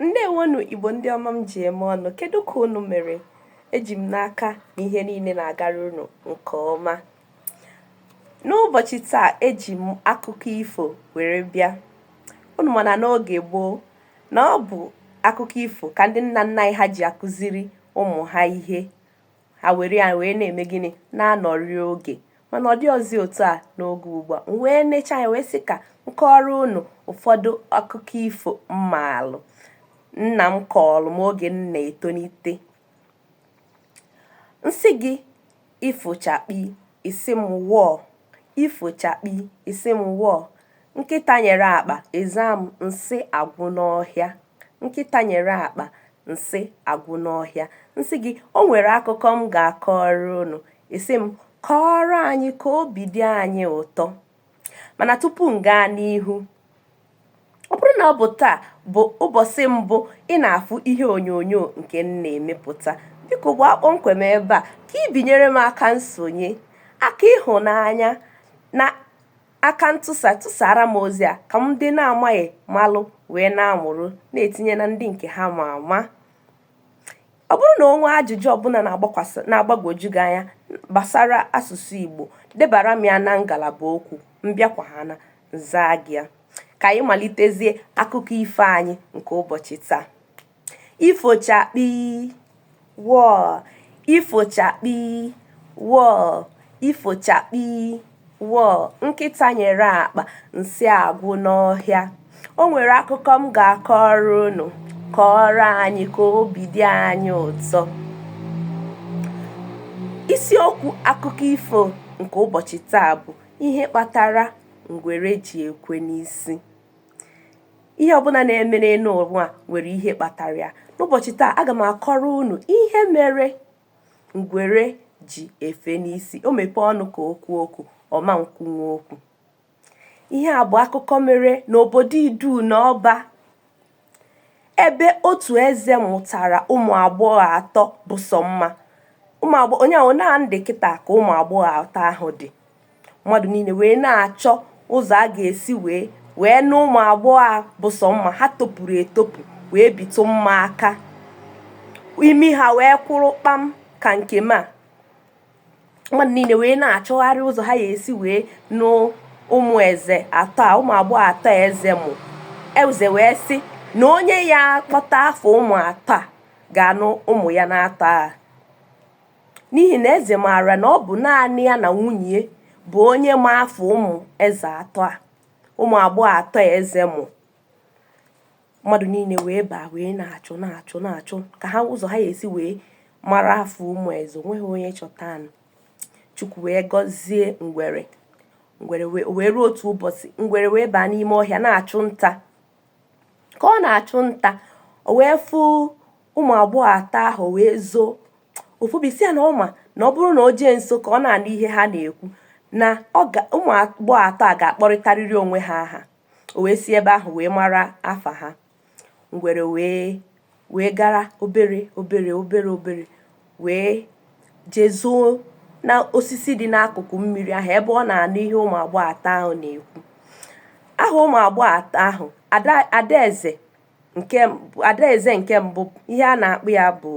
ǹdeèwonù ìgbò ndị ọma m jì ème ọnụ kedu kà unù mèrè ejì m n'aka nà ihe niile nà-àgara unù ǹkè ọma n'ụbọ̀chị̀ taa ejì m akụkọ ifò wère bịa unù mà nà n'ogè gboo nà ọ bụ̀ akụkọ ifò kà ndị nnà nnà anyị ha jì àkuziri ụmụ̀ ha ihe ha were ya wee na-eme gịnị na-anọrị oge mana ọ dịrọzi otu a n'oge ugbu a m wee necha ya wee sị ka m kọọrọ unu ụfọdụ akụkọ ifo m maalụ nna m kọọlụ m oge m na-etonite m sị gị ifochakpi ị sị m wọọ ifochakpi ị sị m wọọ nkịta nyere akpa ị za m nsị agwụ n'ọhịa Nkịta nyere akpa nsị agwụ n'ọhịa. M sị gị, o nwere akụkọ m ga-akọrọ unu. Ị sị m, kọọrọ anyị ka obi dị anyị ụtọ. Mana tupu m gaa n'ihu, ọ bụrụ na ọ bụ taa bụ ụbọchị mbụ ị na-afụ ihe onyonyo nke m na-emepụta, biko gbaa kpọmkwem ebe a ka i binyere m aka nsonye, aka ịhụnanya na Aka ntụsa tụsara m ozi a ka ndị na-amaghị malụ wee na-amụrụ na-etinye na ndị nke ha ma ama. Ọ bụrụ na o nwee ajụjụ ọbụla na-agbagwoju gị anya gbasara asụsụ Igbo, debara m ya na ngalaba okwu, m bịakwa ha na zaa gị ya. Ka anyị malitezie akụkọ ifo anyị nke ụbọchị taa. ifochakpi wọọ ifochakpi wọọ ifochakpi wọọ nkịta nyere akpa nsị agwụ n'ọhịa o nwere akụkọ m ga-akọrọ unu kọọrọ anyị ka obi dị anyị ụtọ isiokwu akụkọ ifo nke ụbọchị taa bụ ihe kpatara ngwere ji ekwe n'isi ihe ọbụla na-eme n'elu ụwa nwere ihe kpatara ya n'ụbọchị taa aga m akọrọ unu ihe mere ngwere ji efe n'isi o mepee ọnụ ka o kwuo okwu ọ ma nkwunwu okwu ihe a bụ akụkọ mere n'obodo idu na ọba ebe otu eze mụtara ụmụ agbọghọ atọ bụ sọ mma onye ahụ na ndị kịta ka ụmụ agbọghọ atọ ahụ dị mmadụ niile wee na-achọ ụzọ a ga-esi wee wee nụ ụmụ agbọghọ a bụ sọ mma ha topuru etopu wee bitụ mma aka imi ha wee kwụrụ kpam ka nke m a mmadụ niile wee na-achọgharị ụzọ ha ga-esi wee nụ ụmụ eze atọ a ụmụ agbọghọ atọ a eze mụ eze wee sị na onye ya-akpọta afa ụmụ atọ a ga-anụ ụmụ ya naatọ a n'ihi na eze maara na ọ bụ naanị ya na nwunye bụ onye ma afa ụmụ eze atọ a ụmụ agbọghọ atọ a eze mụ mmadụ niile wee baa wee na-achọ na-achọ na-achọ ka ha ụzọ ha ga-esi wee mara afa ụmụ eze o nweghị onye chọtanụ chukwu wee gọzie ngwere ngwere wee ruo otu ụbọchị ngwere wee baa n'ime ọhịa na-achụ nta ka ọ na-achụ nta o wee fụ ụmụ agbọghọ atọ ahụ wee zoo ofubisi ya na ọ ma na ọ bụrụ na o jee nso ka ọ na-anụ ihe ha na-ekwu na ụmụ agbọghọ atọ a ga-akpọrịtarịrị onwe ha aha o wee si ebe ahụ wee mara afa ha ngwere wee wee gara obere obere obere obere wee jee zoo na osisi dị n'akụkụ mmiri ahụ ebe ọ na-anụ ihe ụmụ agbọghọ atọ ahụ na-ekwu aha ụmụ agbọghọ atọ ahụ adaeze nke adaeze nke mbụ ihe a na-akpọ ya bụ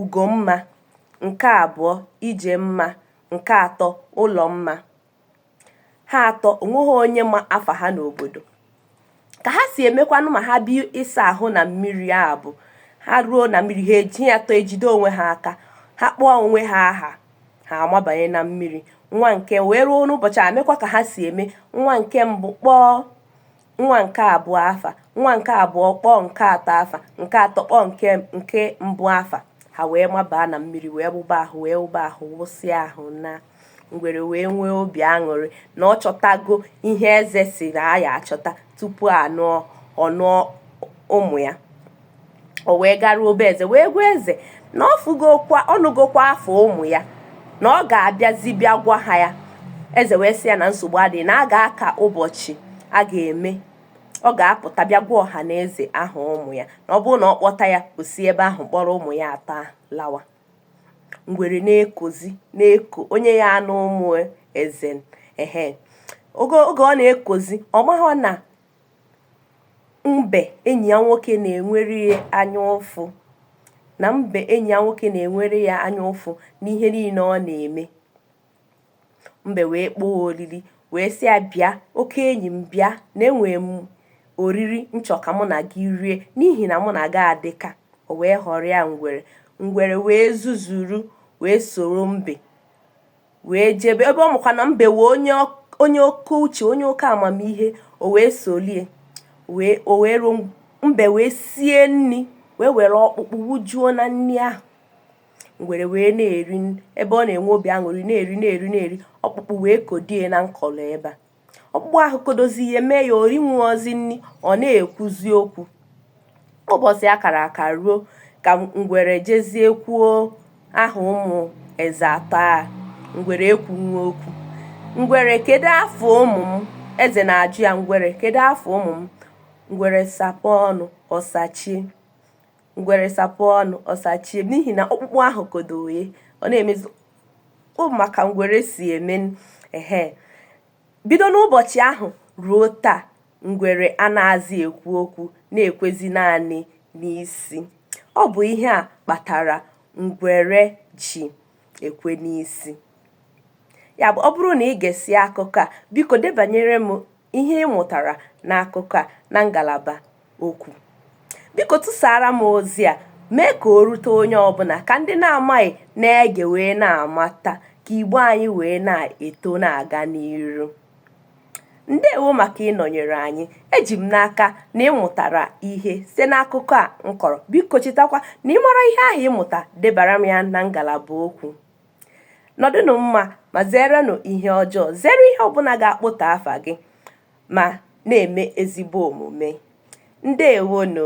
ugomma nke abụọ ijemma nke atọ ụlọmma ha atọ o nweghị onye ma afa ha n'obodo ka ha si emekwanụ ma ha bịa ịsa ahụ na mmiri a bụ ha ruo na mmiri ha eji ha atọ ejide onwe ha aka ha kpọọ onwe ha aha ha amabanye na mmiri nwa nke wee ruo n'ụbọchị a mekwa ka ha si eme nwa nke mbụ kpọọ nwa nke abụọ afa nwa nke abụọ kpọọ nke atọ afa nke atọ kpọọ nke nke mbụ afa ha wee mabaa na mmiri wee wụba ahụ wee wụba ahụ wụsịa ahụ naa ngwere wee nwee obi aṅụrị na ọ chọtago ihe eze sị na a ya-achọta tupu a nụọ ọ nụọ ụmụ ya o wee garuo be eze wee gwa eze na ọ fụgokwa ọ nụgokwa afa ụmụ ya na ọ ga-abịazi bịa gwa ha ya eze wee sị ya na nsogbu adịghị na a ga-aka ụbọchị a ga-eme ọ ga-apụta bịa gwa ọha na eze aha ụmụ ya na ọ bụrụ na ọ kpọta ya o si ebe ahụ kpọrọ ụmụ ya atọ ahụ lawa ngwere na-ekozi na-eko onye ya-anụ ụmụ eze ehe oge oge ọ na-ekozi ọ maghọ na Mbe enyi ya nwoke na-enwere ya anya ụfụ na mbe enyi ya nwoke na-enwere ya anya ụfụ n'ihe niile ọ na-eme. Mbe wee kpọọ oriri wee sị ya bịa oke enyi m bịa na enwere m oriri m chọ ka mụ na gị rie n'ihi na mụ na gị adị ka o wee ghọrịa ngwere ngwere wee zuzuru wee soro mbe wee jebe ebe ọ makwa na mbe bụ onye onye oke uche onye oke amamihe o wee solie wee o wee ruo mbe wee sie nri wee were ọkpụkpụ wụjuo na nri ahụ ngwere wee na-eri ebe ọ na-enwe obi aṅụrị na-eri na-eri na-eri ọkpụkpụ wee kodo ya na nkọlọ ebe a ọkpụkpụ ahụ kodozi ihe mee ya o rinwuozi nri ọ na-ekwuzi okwu ụbọchị a kara aka ruo ka ngwere jezie kwuo aha ụmụ eze atọ a ngwere ekwunwe okwu ngwere kedu afa ụmụ m eze na-ajụ ya ngwere kedu afa ụmụ m ngwere sapụ ọnụ ọ sachie ngwere sapụ ọnụ ọ sachie n'ihi na ọkpụkpụ ahụ kodo ye ọ na-emezi ị ma ka ngwere si eme ehe bido n'ụbọchị ahụ ruo taa ngwere anazị ekwu okwu na-ekwezi naanị n'isi ọ bụ ihe a kpatara ngwere ji ekwe n'isi ya bụ ọ bụrụ na i gesịa akụkọ a biko debanyere m ihe ị mụtara n'akụkọ a na ngalaba okwu. Biko tụsara m ozi a mee ka o rute onye ọbụla ka ndị na-amaghị na-ege wee na-amata ka Igbo anyị wee na-eto na-aga n'iru. Ndewo maka ịnọnyere anyị. Eji m n'aka na ị mụtara ihe site n'akụkọ a m kọrọ. Biko chetakwa na ị mara ihe ahụ ị mụta debara m ya na ngalaba okwu. nọdụnụ mma ma zerenụ ihe ọjọọ zere ihe ọbụla ga-akpụtọ afa gị ma na-eme ezigbo omume ndewonụ